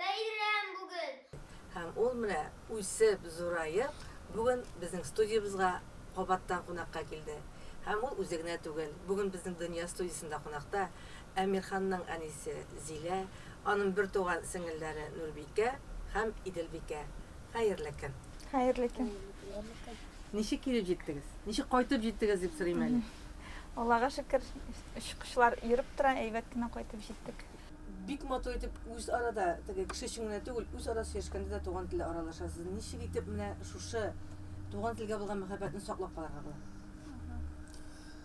Бәйрәм бүген! Һәм ул менә үсеп, зураеп, бүген безнең студиябезгә кабаттан кунакка килде. Һәм ул үзе генә түгел, бүген безнең Дөнья студиясендә кунакта Әмирханның әнисе Зилә, аның бертуган сеңелләре Нурбикә һәм Иделбикә. Хәерле көн! Хәерле көн! Ничек килеп җиттегез? Ничек кайтып җиттегез дип сорыйм әле. Аллага шөкер, очкычлар йөреп тора, әйбәт кенә кайтып җиттек. Бик матур итеп үз арада, теге кеше өчен генә түгел, үз ара сөйләшкәндә дә туган телдә аралашасыз. Ничек итеп менә шушы туган телгә булган мәхәббәтне саклап калырга була?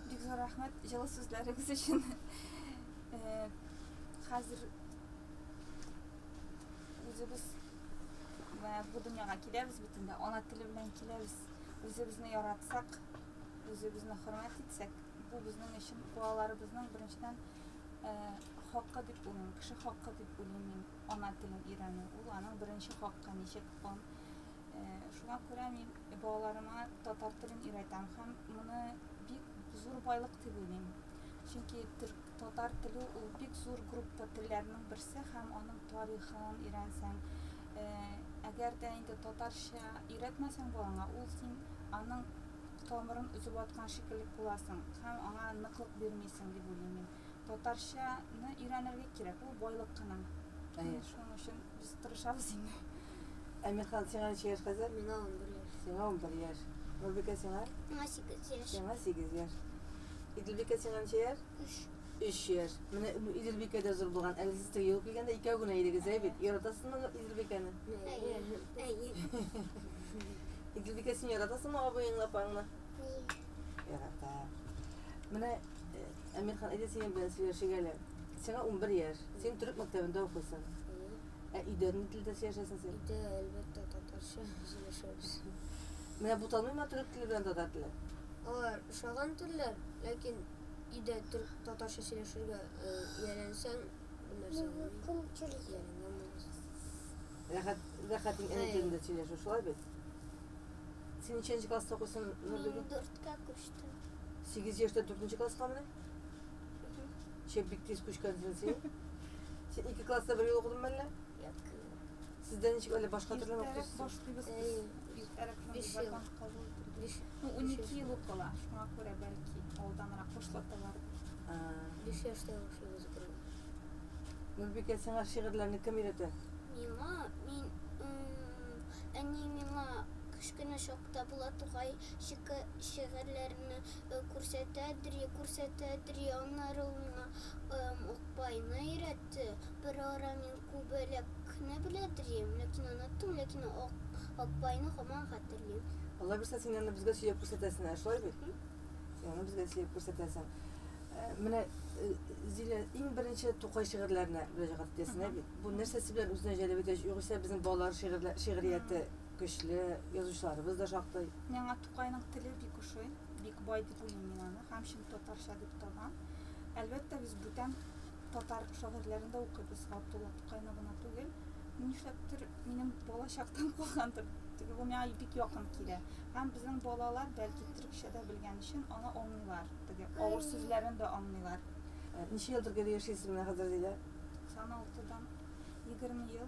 Бик зур рәхмәт җылы сүзләрегез өчен. Хәзер үзебез менә бу дөньяга киләбез бит инде, ана теле белән киләбез. Үзебезне яратсак, үзебезне хөрмәт итсәк, бу безнең өчен балаларыбызның беренчедән Хакы дип уйлыйм, кеше хакы дип уйлыйм мин ана телен өйрәнү. Ул аның беренче хакы, ничек он. Шуңа күрә мин балаларыма татар телен өйрәтәм һәм моны бик зур байлык дип уйлыйм. Чөнки татар теле ул бик зур группа телләрнең берсе һәм аның тарихын өйрәнсәң, әгәр дә инде татарча өйрәтмәсәң балаңа, ул син аның Тамырын өзеп аткан шикелле буласың һәм аңа ныклык бирмисең, дип уйлыйм мин. Татарчаны өйрәнергә кирәк, ул байлык кына. Әйе. Шуның өчен без тырышабыз инде. Әмирхан, сиңа ничә яшь хәзер? Миңа унбер яшь. Сиңа унбер яшь. Нурбикә, сиңа? Миңа сигез яшь. Сиңа сигез яшь. Иделбикә, сиңа ничә яшь? Өч. Өч яшь. Менә Иделбикә дә зур булган. Әле сез тегегә килгәндә икәү генә идегез, әйе бит? Яратасызмы Иделбикәне? Әйе. Әйе. Идлибикә, син яратасыңмы абыеңны, апаңны? Ярата. Менә э, Әмирхан, әйдә синең белән сөйләшик әле. Сиңа 11 яшь. Син төрек мәктәбендә укыйсың. Ә өйдә ни телдә сөйләшәсең син? Өйдә әлбәттә татарча сөйләшәбез. Менә буталмыймы төрек теле белән татар теле? Алар ошаган телләр, ләкин өйдә төрек татарча сөйләшергә э, ияләнсәң, бу нәрсә булмый. Ияләнгән булмас. Рәхәт, рәхәт иң әни телендә сөйләшү, шулай бит? Син ничәнче класста укыйсың, Нурбибә? Мин дүрткә күчтем. Сигез яшьтә дүртенче класскамыни? Чеп, бик тиз күчкәнсең син. Син ике класста бергә укыдыңмы әллә? Юк. Сездә ничек әллә башка төрле Иртәрәк укыйсыз? башлыйбыз без. Иртәрәк шундый Биш ел. вакант кабул итәбез. Биш. Ну, унике ел укыла, шуңа күрә бәлки алданрак башлаталар. А. Биш яшьтә башлыйбыз бергә. Нурбикә, сиңа шигырьләрне кем өйрәтә? Миңа, мин, м-м, әни миңа кечкенә чакта Булат Тукай шига, шигырьләрне күрсәтә дри, күрсәтә дри, аннары ул миңа, м-м, Акбайны өйрәтте. Берара мин Күбәләкне белә дрим, ләкин оныттым, ләкин Ак, Акбайны һаман хәтерлим. Алай булса, син аны безгә сөяп күрсәтәсең, ә шулай бит? Мхм. Син аны безгә сөяп күрсәтәсең. Менә, Зилә, иң беренче Тукай шигырьләренә мөрәҗәгать итәсең, ә бит? Бу нәрсәсе белән үзенә җәлеп итә, югыйсә безнең балалар шигырьлә, шигърияте көчле, язучыларыбыз да шактый. Миңа Тукайның теле бик ошый, бик бай дип уйлыйм мин аны һәм чын татарча дип табам. Әлбәттә, без бүтән татар шагыйрьләрен дә укыйбыз, Габдулла Тукайны гына түгел. Бу нишләптер минем балачактан калгандыр, теге бу миңа бик якын килә. Һәм безнең балалар, бәлки, төрекчә дә белгән өчен, аны аңлыйлар, теге авыр сүзләрен дә аңлыйлар. Ничә елдыр гел яшисез менә хәзер, Зилә? 96-дан 20 ел.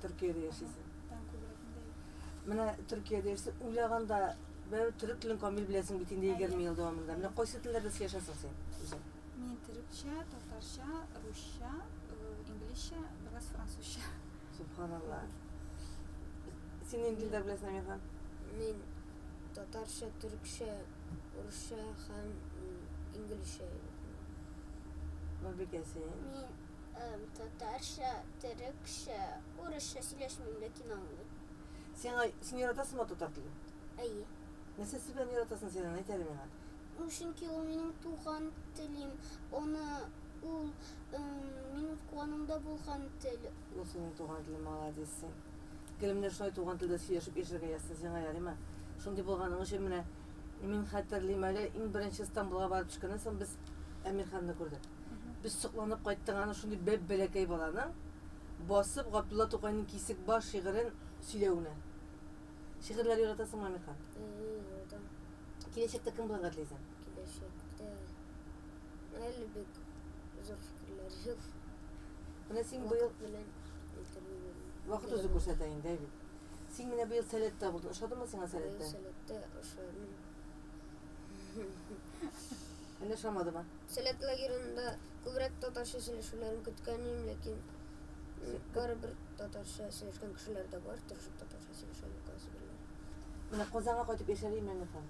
Төркиядә яшисең. Тан күбрәк инде. Менә Төркиядә яшисең. Уйлаганда бәр төрек телен камил беләсең бит инде 20 ел дәвамында. Менә кайсы телләрдә сөйләшәсең син үзең? Мин төрекчә, татарча, русча, инглизчә, бераз французча. Субханалла. Син нинди телләр беләсең, Әмир хан? Мин татарча, төрекчә, русча һәм инглизчә. Бу бикәсе. Мин татарча, төрекчә, урысча сөйләшмим, ләкин аңлыйм. Сиңа, син яратасыңмы татар телен? Әйе. Нәрсә сибән яратасың син аны әйт әле миңа? Чөнки ул минем туган телим, аны ул минут куанымда булган тел. Ул синең туган телең, маладис син. Гел менә шулай туган телдә сөйләшеп яшәргә язсын сиңа, ярыймы? Шундый булганың өчен менә. И мин хәтерлим әле, иң беренче Стамбулга барып төшкәннән соң без Әмирханны күрдек. Без сокланып кайттык аны шундый бәп-бәләкәй баланың басып Габдулла Тукайның Кисек баш шигырен сөйләвенә. Шигырьләр яратасыңмы, Әмирхан? Ии, яратам. Киләчәктә кем булырга телисең? Киләчәктә... Әле бик зур фикерләр юк. Менә син быел... Вакыт белән әйтергә генә. Вакыт үзе күрсәтә инде, Әйбик. Син менә быел Сәләттә булдың. Ошадымы сиңа Сәләттә? Сәләттә ошадым. Әллә ошамадымы? Сәләт лагерында күбрәк татарча сөйләшүләрен көткән идем, ләкин барыбер татарча сөйләшкән кешеләр дә бар, тырышып татарча сөйләшә, юк кайсы бирләре. Менә Казанга кайтып яшәргә имәнле кал.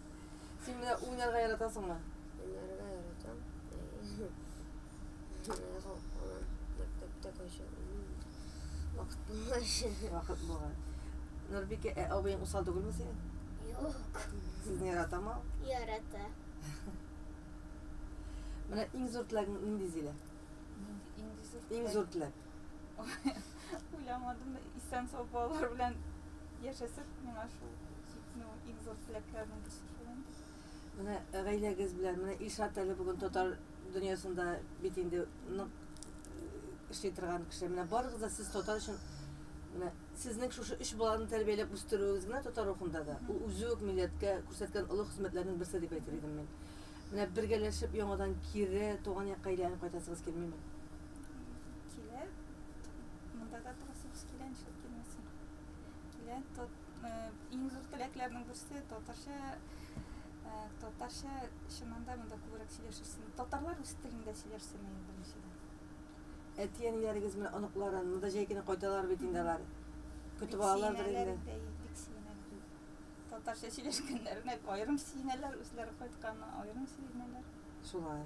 Син менә уйнарга яратасыңмы? Уйнарга яратам. Мәктәптә кайчак вакыт булмай. Вакыт булмай. Нурбикә, ә абыең усал түгелме синең? Юк. Сезне яратамы ул? Ярата. Менә иң зур теләгең нинди, Зилә? Иң зур теләк. Уйламадым да, исән-сау балалар белән яшәсәк, миңа шул җитми ул. Иң зур теләкләрнең берсе шулай. Менә гаиләгез белән, менә Илшат әле бүген татар дөньясында бит инде нык эшли торган кеше. Менә барыгыз да сез татар өчен менә сезнең шушы өч баланы тәрбияләп үстерүегез генә татар рухында да, ул үзе үк милләткә күрсәткән олы хезмәтләрнең берсе дип әйтер идем мин. Менә бергәләшеп яңадан кире туган якка әйләнеп кайтасыгыз килмиме? Килә. Монда да торасыбыз килә, нишләп килмәсен. Килә. Иң зур теләкләрнең берсе татарча татарча чыннан да монда күбрәк сөйләшерсен. Татарлар үз телендә сөйләшсен иде беренчедән. Әти-әниләрегез менә оныкларын монда җәй көне кайталар бит инде алар. Көтеп алалардыр инде. Бик сөенәләр. Татарча сөйләшкәннәренә аерым сөенәләр, үзләре кайтканына аерым сөенәләр. Шулай.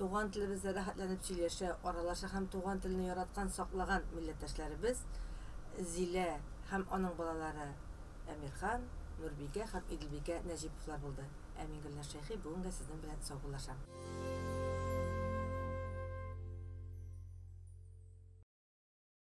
Туган телебездә рәхәтләнеп сөйләшә, аралаша һәм туган телне яраткан, саклаган милләттәшләребез Зилә һәм аның балалары Әмирхан, Нурбикә һәм Иделбикә Нәҗиповлар булды. Ә мин, Гөлназ Шәйхи, бүгенгә сезнең белән саубуллашам.